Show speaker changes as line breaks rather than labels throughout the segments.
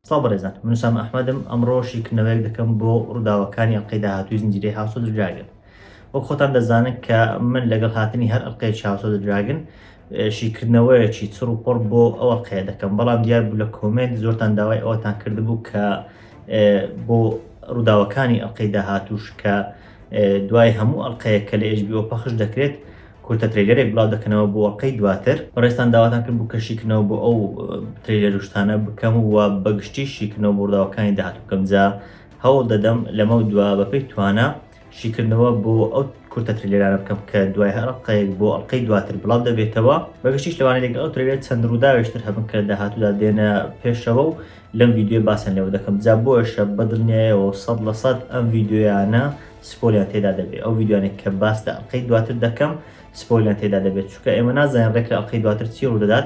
سڵاو بەڕێزان من سام ئەحمەدم ئەمڕۆ شیکردنەوەیەک دەکەم بۆ ڕووداوەکانی ئەڵلقەی داهاتووی زنجیرەی هاوسۆ دراگن وەک خۆتان دەزانن کە من لەگەڵ هاتنی هەر ئەڵلقەی چاوسۆ دراگن شیکردنەوەیەکی چڕ و پڕ بۆ ئەوە قەیە دەکەم بەڵام دیار بوو لە کۆمێنت زۆرتان داوای ئەوەتان کردبوو کە بۆ ڕووداوەکانی ئەڵلقەی داهاتوش کە دوای هەموو ئەڵلقەیە کە لە ئێژبیەوە پەخش دەکرێت کورتە ترێلەرێک بڵاو دەکەنەوە بۆ ئەڵلقەی دواتر بەڕێستان داواتان کرد بوو کە شیکردنەوە بۆ ئەو ترێلەروشتانە بکەم و بەگشتی شیکردنەوە بۆ ڕووداوەکانی داهاتوو بکەم جا هەوڵ دەدەم لەمە دوا بەپی توانە شیکردنەوە بۆ ئەو کورتە ترێلێرانە بکەم کە دوای هەر ئەڵقەیەک بۆ ئەڵقەی دواتر بڵاو دەبێتەوە بە گشتیش لەوانەیە لەگەڵ ئەو ترێلێرە چەند ڕووداوێکی تر هەبن کە لە داهاتوودا دێنە پێشەوە و لەم ڤیدیۆیە باسیان لێوە دەکەم جا بۆیشە بە دڵنیایەوە و سەد لە سەد ئەم ڤیدیۆیانە سپۆیلیان تێدا دەبێت ئەو ڤیدیۆیانێک کە باس لە ئەڵقەی دواتر دەکەم سپۆیلیان تێدا دەبێت چونکە ئێمە نازانین ڕێک لە ئەڵقەی دواتر چی ڕوودەدات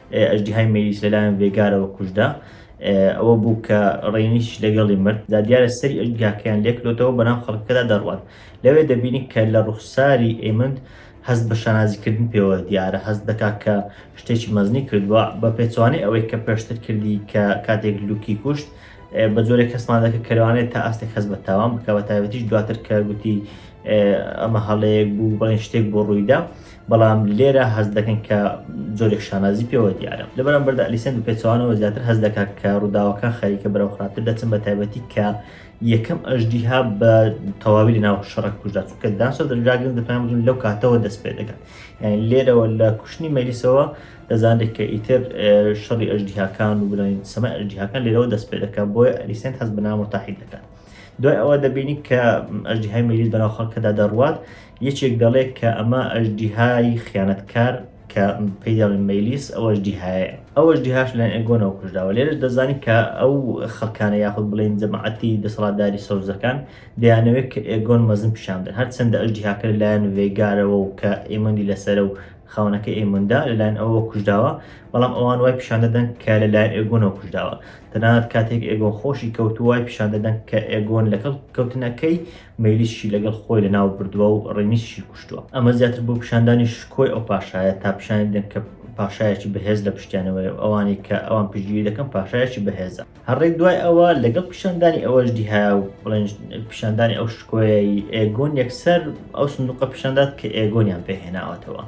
ئەژدیهای مەیلیس لەلایەن ڤێگارەوە کوژرا، ئەوە بوو کە ڕێنیش لەگەڵی مرد، جا دیارە سەری ئەژدیهاکەیان لێکلۆتەوە بەناو خەڵکەکەدا دەڕوات، لەوێ دەبینی کە لە ڕوخساری ئێمند هەست بە شانازیکردن پێوە دیارە، هەست دەکات کە شتێکی مەزنی کردووە، بە پێچەوانەی ئەوەی کە پێشتر کردی کە کاتێک لوکی کوشت، بە جۆرێک هەستمان دەکرد کە لەوانەیە تا ئاستێک هەست بە تاوان بکات، بەتایبەتیش دواتر کە گوتی ئەمە هەڵەیەک بوو، بەڵێن شتێک بۆ ڕوویدا. بەڵام لێرە هەست دەکەن کە جۆرێک شانازی پێوە دیارە لە بەرامبەردا ئەلیسێن بە پێچوانەوە زیاتر هەست دەکات کە ڕووداوەکان خەریکە بەرەو خراپتر دەچن بە تایبەتی کە یەکەم ئەژدیها بە تەواوی لە ناو شەڕک کوژدا چونکە داسۆ دەجاگرن دەپیان بدون لەو کاتەوە دەست پێ دەکات یعنی لێرەوە لە کوشتنی مەلیسەوە دەزانێت کە ئیتر شەڕی ئەژدیهاکان و بڵێن سەمای ئەژدیهاکان لێرەوە دەست پێ دەکات بۆیە ئەلیسێن هەست بە نامرتاحی دەکات دوای ئەوە دەبینی کە ئەژدیهای مەیلیس بەناو خەڵکەدا دەڕوات یەکێک دەڵێت کە ئەمە ئەژدیهای خیانەتکار کە پێی دەڵێن مەیلیس ئەو ئەژدیهایە ئەو ئەژدیهاش لەلایەن ئێگۆنەوە کوژراوە لێرەش دەزانی کە ئەو خەڵکانە یاخود بڵێن جەماعەتی دەسەڵاتداری سەوزەکان دەیانەوێت کە ئێگۆن مەزن پیشان بدەن هەرچەندە ئەژدیهاکە لەلایەن ڤێیگارەوە و کە ئێمەندی لەسەرە و خاوەنەکەی ئێموندا لەلایەن ئەوەوە کوژراوە، بەڵام ئەوان وای پیشان دەدەن کە لەلایەن ئێگۆنەوە کوژراوە. تەنانەت کاتێک ئێگۆن خۆشی کەوتووە، وای پیشان دەدەن کە ئێگۆن لەگەڵ کەوتنەکەی، مەیلیسشی لەگەڵ خۆی لەناو بردووە و ڕێنیسشی کوشتووە. ئەمە زیاتر بۆ پیشاندانی شکۆی ئەو پاشایە تا پیشانی بدەن کە پاشایەکی بەهێز لە پشتیانەوەیە و ئەوانەی کە ئەوان پشتگیری دەکەن پاشایەکی بەهێزە. هەڕێک دوای ئەوە لەگەڵ پیشاندانی ئەوەش دیهایا و بڵێن پیشاندانی ئەو شکۆیەی ئێگۆن یەکسەر ئەو سندوقە پیشاندات کە ئێگۆنیان پێهێناوەتەوە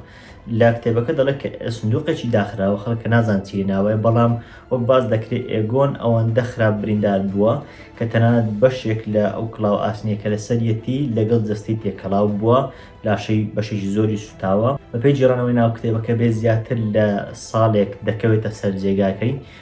لە کتێبەکە دەڵێت کە سندوقێکی داخراوە خەڵکە نازان چی ناوەیە بەڵام وەک باز دەکرێت ئێگۆن ئەوەندە خراپ بریندار بووە کە تەنانەت بەشێک لە ئەو کڵاو ئاسنیە کە لەسەریەتی لەگەڵ جەستەی تێکەڵاو بووە لاشەی بەشێکی زۆری سوتاوە بەپێی جێڕانەوەی ناو کتێبەکە بێ زیاتر لە ساڵێک دەکەوێتە سەر جێگاکەی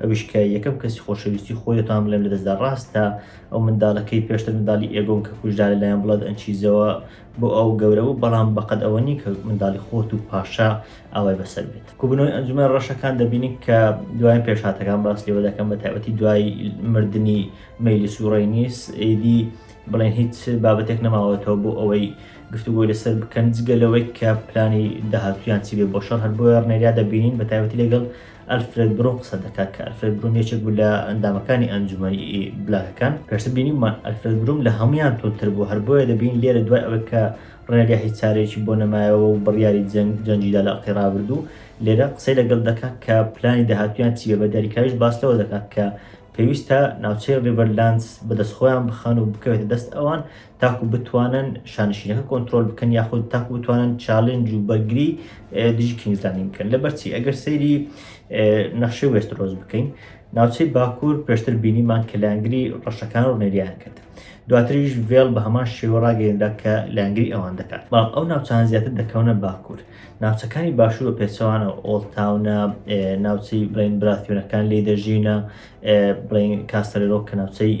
ئەویش کە یەکەم کەسی خۆشەویستی خۆیەتان بڵێم لەدەستدا ڕاستە ئەو منداڵە کەی پێشتر منداڵی ئێگۆن کە کوژرا لەلایەن بڵەد ئەنچیزەوە بۆ ئەو گەورە بوو بەڵام بەقەد ئەوە نی کە منداڵی خۆت و پاشا ئاوای بەسەر بێت کوبنەوەی ئەنجومەن ڕەشەکان دەبینین کە دوایین پێشهاتەکان باس لێوە دەکەم بە تایبەتی دوای مردنی مەیلیس و ڕێنیس ئیدی بڵێن هیچ بابەتێک نەماوەتەوە بۆ ئەوەی گفتوگۆی لەسەر بکەن جگە لەوەی کە پلانی داهاتویان چی بێ بۆ شەڕ هەر بۆیە ڕنێریا دەبینین بە تایبەتی لەگەڵ ئەلفرێد برون قسە دەکات، کە ئەلفرێد برون یەکێک بوو لە ئەندامەکانی ئەنجومەنی بلاکەکان، پێشتر بینیومان ئەلفرێد برون لە هەموویان توندتر بوو، هەر بۆیە دەبینین لێرە دوای ئەوەی کە ڕێنریا هیچ چارەیەکی بۆ نەمایەوە و بڕیاری جەنگ جەنگی دا لە ئەڵقەی ڕابردوو، لێرە قسەی لەگەڵ دەکات کە پلانی داهاتوویان چی بێ، بە دیاریکراویش باس لەوە دەکات کە پێویستە ناوچەی ڕیڤەرلاندز بە دەست خۆیان بخەن و بکەوێتە دەست ئەوان، تاکو بتوانن شانشینەکە کۆنتترۆل بکەن یاخود تاکو بتوانن چاالنج و بەرگری دژی کینگزلانی بکەن لە بەرچی ئەگەر سەیری نەخشەی وێسترۆز بکەین ناوچەی باکوور پێشتر بینیمان کە لایەنگری ڕەشەکان و نێریان کرد دواتریش ڤێڵ بە هەمان شێوە ڕاگەێندا کە لایەنگری ئەوان دەکات بەڵام ئەو ناوچان زیاتر دەکەونە باکوور ناوچەکانی باشوور و پێچەوانە ئۆڵتاونە ناوچەی بڵین براتیۆنەکان لێ دەژینە بڵین کاسەرۆک کە ناوچەی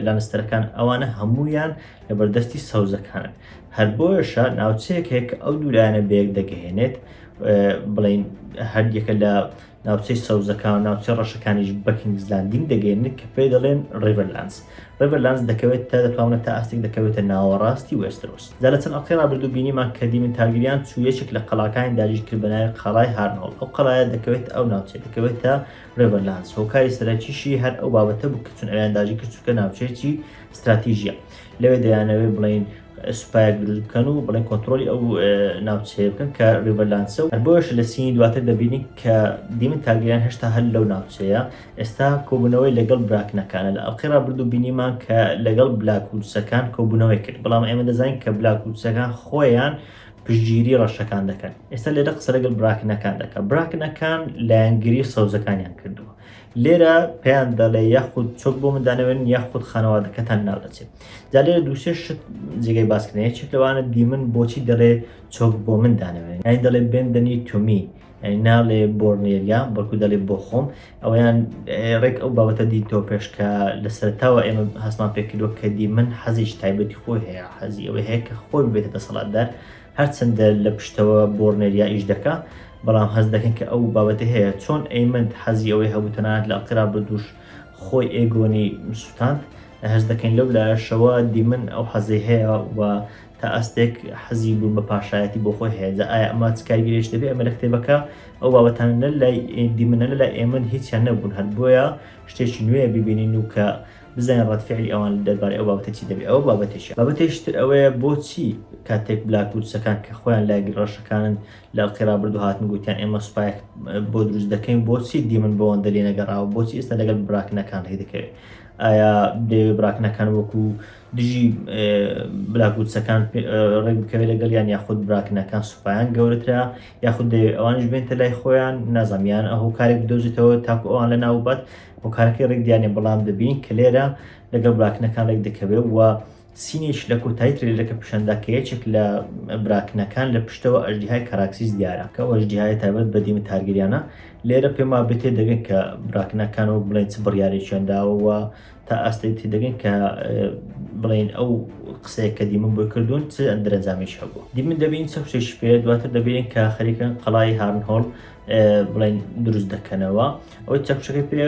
لانستەرەکان ئەوانە هەمویان لە بەردەستی سەوزەکانن هەر بۆیشە ناوچەیەک هەیە کە ئەو دوولایەنە بەیەک دەگەهێنێت بڵین هەردیەکە لە ناوچەی سەوزەکان و ناوچە ڕەشەکانیش بەکینگزلاندینگ دەگەێنێت کە پێ دەڵێن ڕێڤەرلانس ڕێڤەرلانس دەکەوێت تا دەتوانە تا ئاستێک دەکەوێتە ناوەڕاستی وێسترۆس دا لە چەند ئەڵقی ڕابردوو بینیمان کە دیمن تارگریان چوویەکێک لە قەڵاکانی داگیرکرد بەناوی قەڵای هارنۆڵ ئەو قەڵایە دەکەوێت ئەو ناوچێت دەکەوێتە ڕێبەر لانس، هۆکاری سەرەکیشی هەر ئەو بابەتە بوو کە چون ئەویان داگیر کرد چونکە ناوچەیەکی ستراتیژییە. لەوێ دەیانەوێت بڵێن سوپایەک دروست بکەن و بڵێن کۆنترۆلی ئەو ناوچەیە بکەن کە ڕێبەر لانسە و هەر بۆیەش لە سینی دواتر دەبینین کە دیمن تارگەریان هێشتا هەر لەو ناوچەیە. ئێستا کۆبوونەوەی لەگەڵ براکنەکانە. لە ئەڵقەی ڕابردوو بینیمان کە لەگەڵ بلاکوودسەکان کۆبوونەوەی کرد، بەڵام ئێمە دەزانین کە بلاکوودسەکان خۆیان پشتگیری ڕەشەکان دەکەن ئێستا لێرە قسە لەگەل براکنەکان دەکە براکنەکان لایەنگری سەوزەکانیان کردووە لێرە پێیان دەڵێ یاخود چۆک بۆ مندانەوێن یاخود خانەوادەکەتان ناو دەچێت جا لێرە دووسێ شت جێگەی باسکرێن یەکێک لەوانە دیمن بۆچی دەڵێ چۆک بۆ مندانەوێن یانی دەڵێ بێن دەنی تومی یانی ناڵێ بۆرنێلیا بەڵکو دەڵێ بۆ خۆم ئەوەیان ڕێک ئەو بابەتە دیتۆ پێش کە لە سەرتاوە ئێمە هەستمان پێکردوە کە دیمەن حەزیش تایبەتی خۆی هەیە حەزی ئەوەی هەیە کە خۆی بێتە دەسەڵاتدار هەرچەندە لە پشتەوە بۆرنێلیا ئیش دەکا بەڵام هەز دەکەن کە ئەو بابەتی هەیە چۆن ئەیمەند حەزی ئەوەی هەبوو تەنانەت لە ئەڵقی رابردووش خۆی ئێگۆنی سوتاند هەست دەکەین لەو لایەشەوە دیمن ئەو حەزەی هەیە و تا ئاستێک حەزی بوون بە پاشایەتی بۆ خۆی هەیە جا ئایا ئەمە چ کاریگەریش دەبێت ئەمە لە کتێبەکە ئەو بابەتانە نە لای دیمنە نە لای ئێمن هیچیان نەبوون هەر بۆیە شتێکی نوێیە ببینین و کە بزانین ڕەتفعلی ئەوان دەربارەی ئەو بابەتە چی دەبێت ئەوە بابەتێکە بابەتێکی تر ئەوەیە بۆچی کاتێک بلاکوودسەکان کە خۆیان لای ڕەشەکانن لە ئەڵقەی ڕابردوو هاتن گوتیان ئێمە سوپایەک بۆ دروست دەکەین بۆچی دیمن بۆ ئەوەندە لێ نەگەڕاوە بۆچی ئێستا لەگەڵ براکنەکان ڕێی دەکەوێت ئایا دەیەوێت براکنەکان وەکو دژی بلاکوچەکان ڕێک بکەوێت لەگەڵ یان یاخود براکنەکان سوپایان گەورەترە یاخود دەیەوێت ئەوانش بێنتە لای خۆیان نازانیان ئەهۆ کارێک بدۆزیتەوە تاکو ئەوان لە ناوبەت هۆکارەکەی ڕێک دیانێ بەڵام دەبین کە لێرە لەگەڵ براکنەکان ڕێک دەکەوێت و سینیچ لە کۆتایی ترەیلەرەکە پیشاندا کە یەکێک لە براکنەکان لە پشتەوە ئەژدیهای کاراکسیس دیارە کە ئەو ئەژدیهایە تایبەت بە دیمن تارگریانە، لێرە پێم وابێ تێدەگەن کە براکنەکان وەک بڵێین چ بڕیارێکیان داوە و تا ئاستێک تێدەگەن کە بڵێین ئەو قسەیە کە دیمن بۆی کردوون چ دەرەنجامێکی هەبووە دیمن دەبین چە شتێکی پێ دواتر دەبینین کە خەریکن قەڵای هارنهۆڵ بڵێین دروست دەکەنەوە. ئەوەی چەکوشەکەی پێ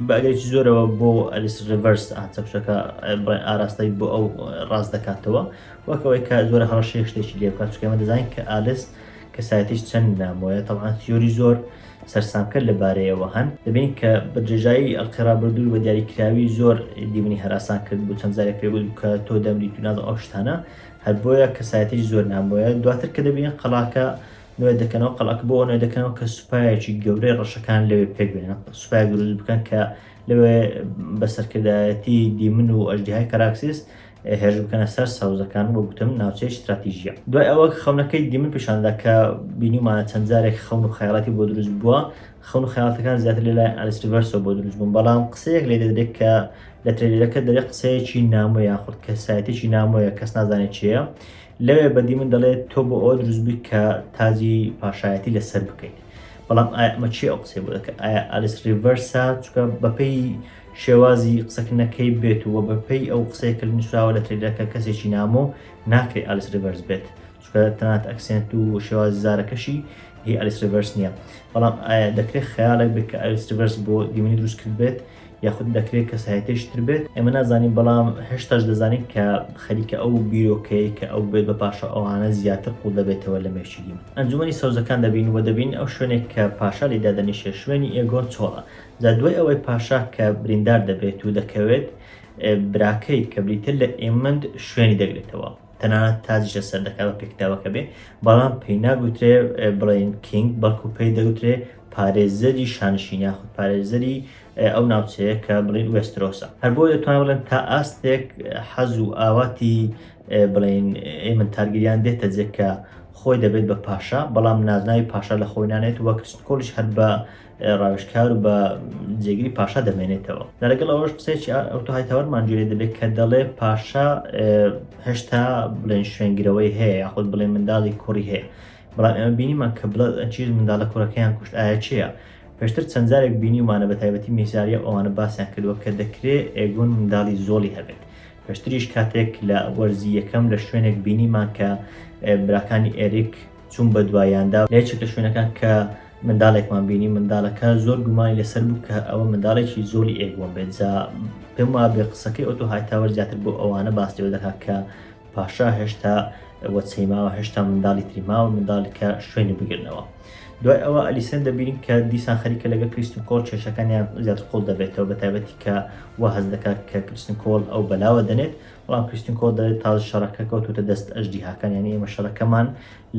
بەگەرێکی زۆرەوە بۆ ئەلیس ریڤەرس چەکوشەکە بڵێن ئاراستەی بۆ ئەو ڕاست دەکاتەوە وەکەوەی کە زۆرە هەڕەشەی شتێکی لێ بکات چکەمە دەزانین کە ئالیس کەسایەتیش چەند نامۆیە تەوان تیۆری زۆر سەرسامکە لەبارەیەوە هەن دەبین کە بە درێژایی ئەڵقێڕابردوو بە دیاریکراوی زۆر دیمنی هەراسان کرد بۆ چەند زارێک پێگوت کە تۆ دەمری توناز ئەو شتانە هەر بۆیە کەسایەتیش زۆر نامۆیە دواتر کە دەبین قەڵاکە نوێ دەکەنەوە قەڵاکە بۆ نوێ دەکەنەوە کە سوپایەکی گەورەی ڕەشەکان لەوێ پێک بێنن سوپای گروز بکەن کە لەوێ بە سەرکردایەتی دیمن و ئەژدیهای کەراکسیس هێرش بکەنە سەر سەوزەکان بۆ گوتم ناوچەی ستراتیژیە دوای ئەوە خەونەکەی دیمن پیشاندا کە بینیمانە چەند جارێک خەون و خەیاڵاتی بۆ دروست بووە خەون و خەیاڵاتەکان زیاتر لەلایەن ئەلیسریڤەرسەوە بۆ دروست بوون بەڵام قسەیەک لێ دەدرێت کە لە ترێلەکە دەرێ قسەیەکی نامۆیە خود کەسایەتێکی نامۆیە کەس نازانێت چیە لەوێ بەدی من دەڵێت تۆ بۆ ئەوە دروستبی کە تاجی پاشایەتی لەسەر بکەیت بەڵام ئەمە چی ئەو قسەی بۆ دەکە ئایا ئالیس ریڤەرسا چکە بەپی شێوازی قسەکردنەکەی بێت و بەپی ئەو قسەیە کە نووسراوە لە تریلەکە کەسێکی نامۆ ناکرێت ئالیس ریڤەرس بێت چکە تەنات ئەکسنت و شێوازی زارەکەشی هی ئەلیس ریڤەرس نییە بەڵام ئایا دەکرێت خیاڵێک بێت کە ئەلیس ریڤەرس بۆ دیمنی دروست کرد بێت یاخود دەکرێت کەسایەتیش تر بێت ئێمە نازانین بەڵام هێشتاش دەزانین کە خەریکە ئەو بیرۆکەیە کە ئەو بێت بە پاشا ئەوانە زیاتر قوڵ دەبێتەوە لە مێشیدیم ئەنجومەنی سەوزەکان دەبین و دەبین ئەو شوێنێک کە پاشا لێ دادەنیشێت شوێنی ئێگۆن چۆڵە جا دوای ئەوەی پاشا کە بریندار دەبێت و دەکەوێت براکەی کە بریتە لە ئێمەند شوێنی دەگرێتەوە تەنانەت تاجیش لەسەر دەکات بە پێکتاوەکە بێ بەڵام پێی ناگوترێ بڵێن کینگ بەڵکو پێی دەگوترێ پارێزەری شانشینی یاخود پارێزەری ئەو ناوچەیە کە بڵین وێسترۆسە هەر بۆ دەتوان بڵێن تا ئاستێک حەز و ئاواتی بڵین ئێمە تارگیریان دێتە جێکە خۆی دەبێت بە پاشا بەڵام نازناوی پاشا لە خۆی نانێت وەک کۆلیش هەر بە ڕاوشکار و بە جێگری پاشا دەمێنێتەوە لەگەڵ ئەوەش قسێکی ئەوتوهای تاوەرمان جوێ دەبێت کە دەڵێ پاشا هێشتا بڵێن شوێنگرەوەی هەیە یاخود بڵێ منداڵی کوڕی هەیە بەڵام ئێمە بینیمان کە بڵەد ئەند چیز منداڵە کوڕەکەیان کوشت ئایا چێە؟ پێشتر چەند جارێک بینیومانە بە تایبەتی میساریا و ئەوانە باسیان کردووە کە دەکرێ ئێگۆن منداڵی زۆڵی هەبێت پێشتریش کاتێک لە وەرزی یەکەم لە شوێنێک بینیمان کە براکانی ئێریک چوون بە دوایاندا لە یەکێک لە شوێنەکان کە منداڵێکمان بینی منداڵەکە زۆر گومانی لەسەر بوو کە ئەوە منداڵێکی زۆڵی ئێگۆن بێت جا پێم وابێ قسەکەی ئۆتۆ هایتاوەر زیاتر بۆ ئەوانە باس لێوە دەکات کە پاشا هێشتا وەچەی ماوە هێشتا منداڵی تری ماوە منداڵی کە شوێنی بگرنەوە دوای ئەوە ئەلیسن دەبینین کە دیسان خەریکە لەگە کریستن کۆڵ کێشەکانیان زیاد قوڵ دەبێتەوە بە تایبەتی کە وا هەز دەکات کە کریستن کۆڵ ئەو بەلاوە دەنێت بەڵام کریستن کۆڵ دەێت تاز شەڕەکە کەوتوتە دەست ئەژدی هاکانیان ئێمە شەڕەکەمان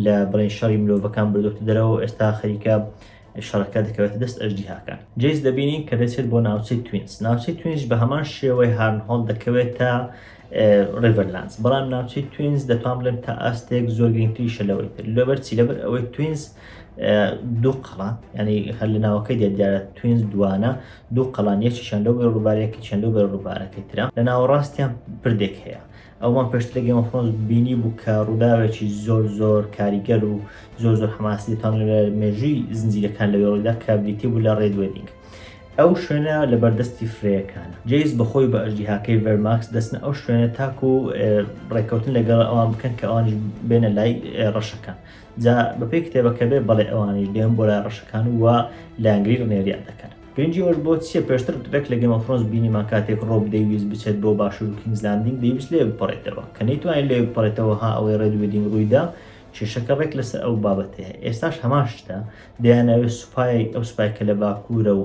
لە بڵێن شەڕی مرۆڤەکان بردوتە دەرەوە ئێستا خەریکە شەڕەکە دەکەوێتە دەست ئەژدیهاکان. جەیس دەبینین کە دەچێت بۆ ناوچەی توینس، ناوچەی توینس بە هەمان شێوەی هارنهۆڵد دەکەوێتە ڕیڤەرلانس، بەڵام ناوچەی توینس دەتوان بڵێم تا ئاستێک زۆر گرنگتریشە لەوەی تر، لەبەر چی؟ لەبەر ئەوەی توینس دوو قەڵا یعنی هەر لە ناوەکەی دێت دیارە توینس دوانە دوو قەڵان یەکیشیان لەو بەرە ڕووبارەکە چیان لەو بەرە ڕووبارەکەی ترە، لە ناوەڕاستیان پردێک هەیە، ئەوەمان پێشتر لە گەیم ئۆف ثرۆنس بینیبوو کە ڕووداوێکی زۆر زۆر کاریگەر و زۆر زۆر حەماسی تەنگە لە مێژووی زنجیرەکان لە وێڵیدا کە بریتی بوو لە ڕێد وێدینگ ئەو شوێنە لە بەردەستی فرەیەکانە جەیس بەخۆی بە ئەژدیهاکەی ڤێرماکس دەچنە ئەو شوێنە تاکو ڕێککەوتن لەگەڵ ئەوان بکەن کە ئەوانیش بێنە لای ڕەشەکان جا بەپێی کتێبەکە بێ بەڵێ ئەوانیش دێن بۆ لای ڕەشەکان و لایەنگری ڕنێریان دەکەن گرنگی ئەوەش بۆ چیە پێشتر رێک لە گێمۆفرۆنس بینیمان کاتێک رۆب دەیویست بچێت بۆ باشور و کینگس لاندینگ دەیویست لەوێ بپەڕێتەوە کە نەیتوانی لەوێ بپەڕێتەوە ها ئەوەی رێد وێدینگ روویدا کێشەکە رێک لەسەر ئەو بابەتەیە ئێستاش هەمان شتە دەیانەوێت سوپای ئەو سوپای کە لە باکورە و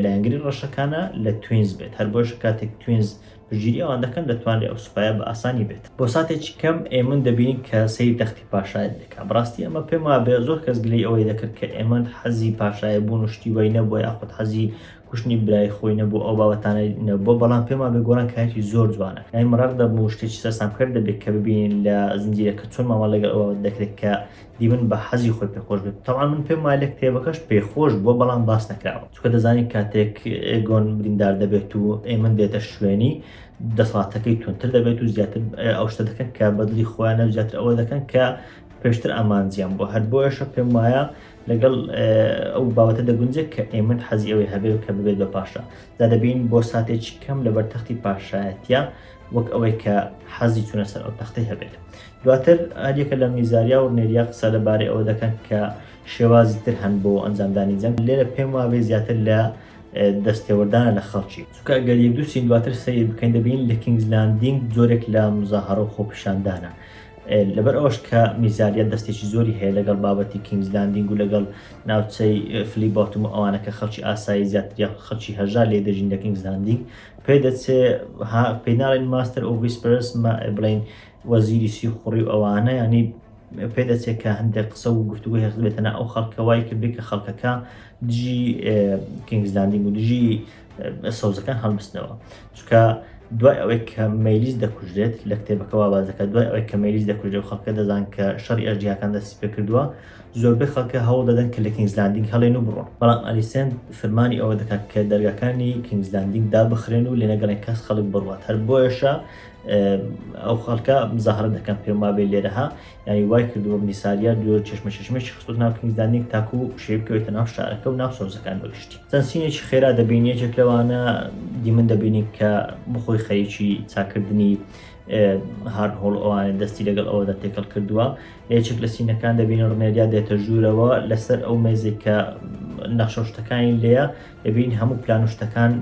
لایەنگری رەشەکانە لە توینز بێت هەر بۆیەشە کاتێک توینز پشتگیری ئەوان دەکەن دەتوانرێت ئەو سوپایە بە ئاسانی بێت. بۆ ساتێکی کەم ئێمن دەبینین کە سەیری تەختی پاشایەت دەکات. بەڕاستی ئەمە پێم وابێ زۆر کەس گلەی ئەوەی دەکرد کە ئێمن حەزی پاشایە بوون و شتی وای نەبووە یاخود حەزی کوشتنی برای خۆی نەبوو ئەو بابەتانەی نەبووە بەڵام پێم وابێ گۆران کارێکی زۆر جوانە کە ئێمن ڕق دەبم و شتێکی سەرسامکەر دەبێ کە ببینین لە زنجیرەکە چۆن مامەڵە لەگەڵ ئەو بابەت دەکرێت کە دیمن بە حەزی خۆی پێخۆش بێت تەبعەن من پێم وایە لە کتێبەکەش پێخۆش بووە بەڵام باس نەکراوە. چونکە دەزانی کاتێک ئێگۆن بریندار دەبێت و ئێمن دێتە شوێنی دەسەڵاتەکەی تونتر دەبێت و زیاتر ئەو شتە دەکەن کە بەدلی خۆیانە و زیاتر ئەوە دەکەن کە پێشتر ئامانجیان بۆ هەر بۆیشە پێم وایە لەگەڵ ئەو باوەتە دەگونجێت کە ئێمن حەزی ئەوەی هەبێ و کە ببێت بە پاشا دا دەبین بۆ ساتێکی کەم لە بەرتەختی پاشایەتە وەک ئەوەی کە حەزی چونە سەر ئەو تەختی هەبێت دواتر ئەریەکە لە میزاریا و نێریا قسە لەبارەی ئەوە دەکەن کە شێوازی تر هەن بۆ ئەنجامدانی جەنگ لێرە پێم وابێ زیاتر لە دەستێوەردانە لە خەڵکی چونکە گەر یەک دوو سین دواتر سەیر بکەین دەبین لە کینگز لاندینگ جۆرێک لە مزاهەڕە و خۆپیشاندانە لەبەر ئەوەش کە میزاریە دەستێکی زۆری هەیە لەگەڵ بابەتی کینگز لاندینگ و لەگەڵ ناوچەی فلی بۆتم و ئەوانە کە خەڵکی ئاسایی زیاتر یا خەڵکی هەژار لێ دەژین لە کینگز لاندینگ پێ دەچێ پێناڵین ماستەر ئۆڤیسپرس بڵین وەزیری سیخوڕی و ئەوانە یانی پێ دەچێ کە هەندێک قسە و گفتوگۆی هەق بێتە نا ئەو خەڵکە وای کردی کە خەڵکەکە دژی کینگزلاندینگ و دژی سەوزەکان هەڵبستنەوە چکە دوای ئەوەی کە مەلیس دەکوژرێت لە کتێبەکە وابازەکە دوای ئەوەی کە مەلیس دەکوژێت و خەڵکە دەزان کە شەڕی ئەژدیاکان دەستی پێ کردووە زۆربەی خەڵکە هەوڵ دەدەن کە لە کینگزلاندینگ هەڵێن و بڕۆن بەڵام ئەلیسێند فرمانی ئەوە دەکات کە دەرگاکانی کینگزلاندینگ دابخرێن و لێنەگەڵێن کەس خەڵک بڕوات هەر بۆیەشە ئەو خەڵکە مزاهرە دەکەن پێم وابێ لێرەها یانی وای کردووە میسالیا دوور چشمە چشمێکی خستوت ناو کلیزانێک تاکو شێبکەوێتە ناو شارەکە و ناو سۆزەکان بەگشتی سەنسینێکی خێرا دەبین یەکێک لەوانە دیمن دەبینی کە بخۆی خەریکی چاکردنی هار هۆڵ ئەوانە دەستی لەگەڵ ئەوەدا تێکەڵ کردووە لەچێک لە سینەکان دەبینە ڕنێریا دێتە ژوورەوە لەسەر ئەو مێزێک کە نەخشە شتەکانی لێە دەبین هەموو پلان شتەکان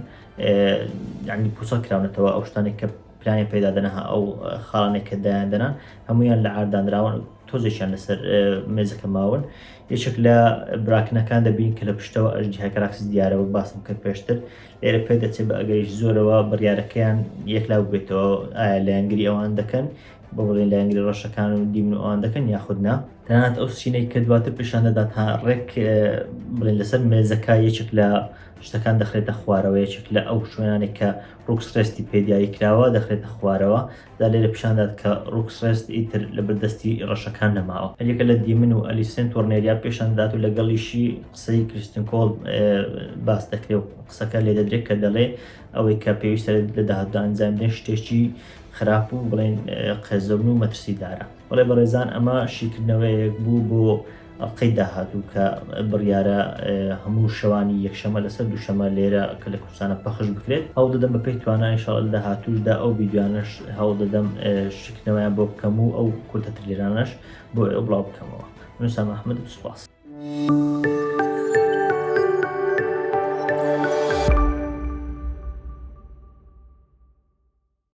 یعنی پوچەڵ کراونەتەوە ئەو شتانێک کە پلانی پێدا دەنەها ئەو خاڵانێک کە دایان دەنان هەمویان لە ئاردانراون تۆزێکیان لەسەر مێزەکە ماون یەکێک لە براکنەکان دەبین کە لە پشتەوە ئەژدی هەکراکس دیارەوە باسم کرد پێشتر لێرە پێ دەچێت بە ئەگەریش زۆرەوە بڕیارەکەیان یەکلاو بێتەوە ئایا لایەنگری ئەوان دەکەن بۆ بڵێ لایەنگری ڕەشەکان و دیمن و ئەوان دەکەن یاخودنا تەنات ئەو سینەی کە دواتر پیشان دەدات تا ڕێک بڵێن لەسەر مێزەکە یەکێک لە شتەکان دەخرێتە خوارەوە یەکێک لە ئەو شوێنانێک کە ڕوکس ڕێستی پێ دیاری کراوە دەخرێتە خوارەوە دا لێرە پیشاندات کە ڕوکس ڕێست ئیتر لە بەردەستی ڕەشەکان نەماوە هەریەکە لە دیمن و ئەلیسێن تۆرنێریا پێشان دەدات و لەگەڵیشی قسەی کریستن کۆڵ باس دەکرێ و قسەکە لێ دەدرێت کە دەڵێ ئەوەی کە پێویستە لە داهاتودا ئەنجام بدەین شتێکی خراپ و بڵێن قێزەون و مەترسیدارە بەڵێ بەڕێزان ئەمە شیکردنەوەیەک بوو بۆ ئەڵقەی داهاتوو کە بڕیارە هەموو شەوانی یەکشەمە لەسەر دووشەمە لێرە کە لە کوردستانە پەخش بکرێت هەوڵ دەدەم بە پێی توانا ان شاءاللە لە داهاتووشدا ئەو ڤیدیوانەش هەوڵ دەدەم شیکردنەوەیان بۆ بکەم و ئەو کورتە تریلەرانەش بۆ ئێوە بڵاو بکەمەوە من سام ئەحمەد سوپاس